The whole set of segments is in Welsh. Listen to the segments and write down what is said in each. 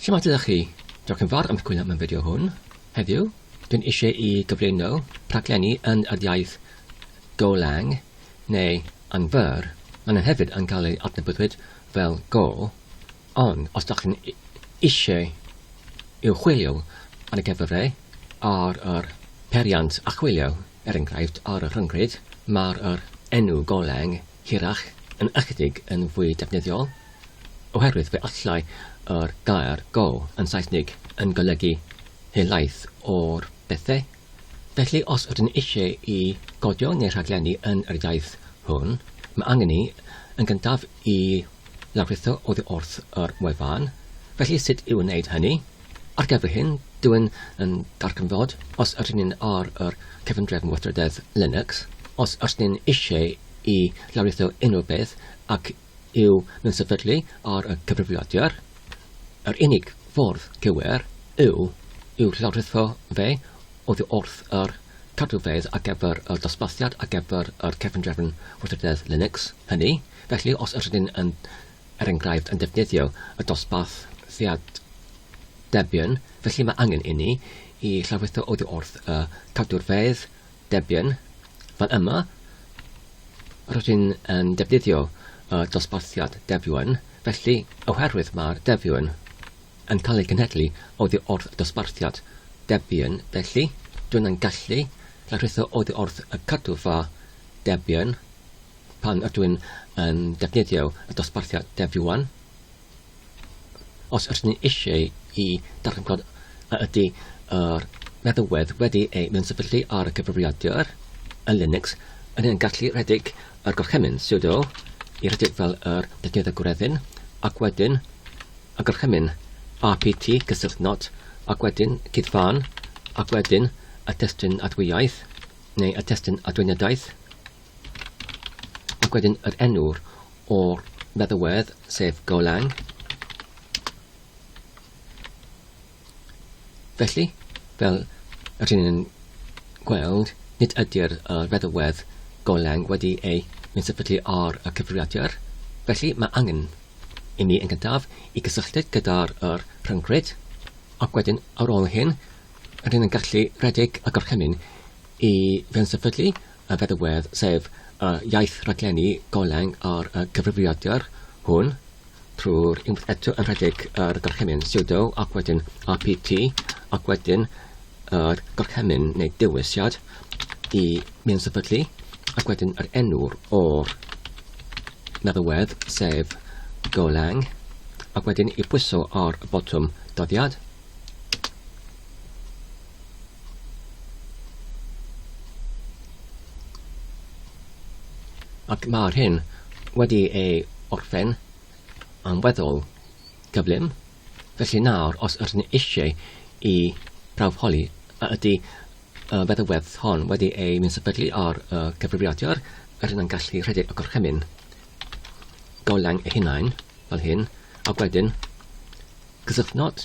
Shwmae dydych chi? Diolch yn fawr am chwilio am y fideo hwn. Heddiw, dwi'n eisiau i gyflwyno rhaglenni yn yr iaith Golang neu yn fyr. Maen nhw hefyd yn cael eu adnabyddwyd fel Go, ond os ydych chi'n eisiau i'w chwilio ar y cyfrifau ar yr peiriant archwilio, er enghraifft ar y rhyngrwyd, mae'r yr enw Golang hirach yn ychydig yn fwy defnyddiol, oherwydd fe allai yr gair go yn Saesnig yn golygu helaeth o'r bethau. Felly, os ydyn eisiau i godio neu rhaglennu yn yr iaith hwn, mae angen ni, yn gyntaf, i lawrlwytho oddi wrth yr wefan. Felly, sut i wneud hynny? Ar gyfer hyn, dw i'n yn darganfod, os ydyn ni'n ar yr cyfundrefn weithrededd Linux, os ydyn ni'n eisiau i lawrlwytho unrhyw beth ac yw nhw'n sefydlu ar y cyfrifiadur, yr unig ffordd cywir yw i'w llawrlwytho fe oddi wrth yr cadwfeydd ar gyfer y dosbarthiad ar gyfer yr cyfundrefn weithrededd Linux hynny, felly os ydyn ni'n yn er enghraifft, yn defnyddio y dosbarth Theatr Debian, felly mae angen inni i lawrlwytho oddi wrth y cadwrfeydd Debian. Fan yma, rydyn yn defnyddio y dosbarthiad Debian, felly oherwydd mae'r Debian yn cael ei genhedlu oddi wrth y dosbarthiad Debian, felly dw i'n gallu lawrlwytho oddi wrth y cadwfa Debian. Pan ydw i'n yn defnyddio y dosbarthiad Dev Yuan, os ydyn ni eisiau i darganfod a ydy yr meddalwedd wedi ei mewnsyfyllu ar y cyfrifiadur yn Linux, yn ni'n gallu rhedeg yr gorchymyn sudo i rhedeg fel yr defnydd y gwreddyn, ac wedyn y gorchymyn apt cysylltu not, ac wedyn cyd-fan, ac wedyn y testun adwyaeth, neu y testun adweiniadaeth. Ac wedyn yr enw'r o'r feddywedd, sef Golang. Felly, fel yr hyn yn gweld, nid ydy'r uh, feddywedd Golang wedi ei sefydlu ar y cyfrifiadur. Felly, mae angen i mi yn gyntaf i gysylltu gyda'r er rhyngryd, ac wedyn ar ôl hyn, rydyn yn gallu rhedeg y gorchymyn i fewn sefydlu y feddygfeydd, sef y iaith raglenni goleung a'r cyfrifiadur hwn, trwy'r unwaith eto yn rhedeg yr gorchymyn sudo ac wedyn apt ac wedyn yr gorchymyn neu dewisiad i mewn sefydlu ac wedyn yr enw'r o'r meddygfeydd, sef goleung ac wedyn i bwyso ar y botwm dyddiad. Ac mae'r hyn wedi ei orffen yn weddol gyflym, felly nawr os ydyn ni eisiau i prawf holi a ydy y feddygfedd hon wedi ei mynd sefydlu ar y cyfrifiadur, rydyn yn gallu rhedeg y gorchymyn golau ei hunain fel hyn, ac wedyn cysylltnod.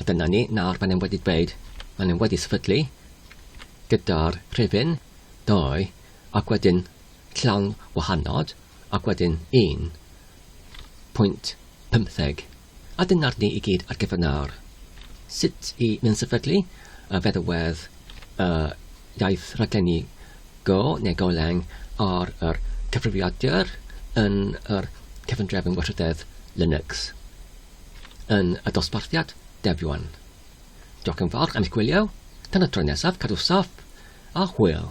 A dyna ni, nawr maen nhw wedi dweud, maen nhw wedi sefydlu gyda'r rhifyn ddoe ac wedyn llawn wahanod ac wedyn 1.15. A dyna'r ni i gyd ar gyfer nawr. Sut i mynd sefydlu y feddwedd y iaith raglenni go neu goleng ar yr cyfrifiadur yn yr cefndrefn warchodedd Linux. yn y dosbarthiad Dev One. Diolch yn fawr am eich gwylio, tan y tro nesaf cadw saff a hwyl!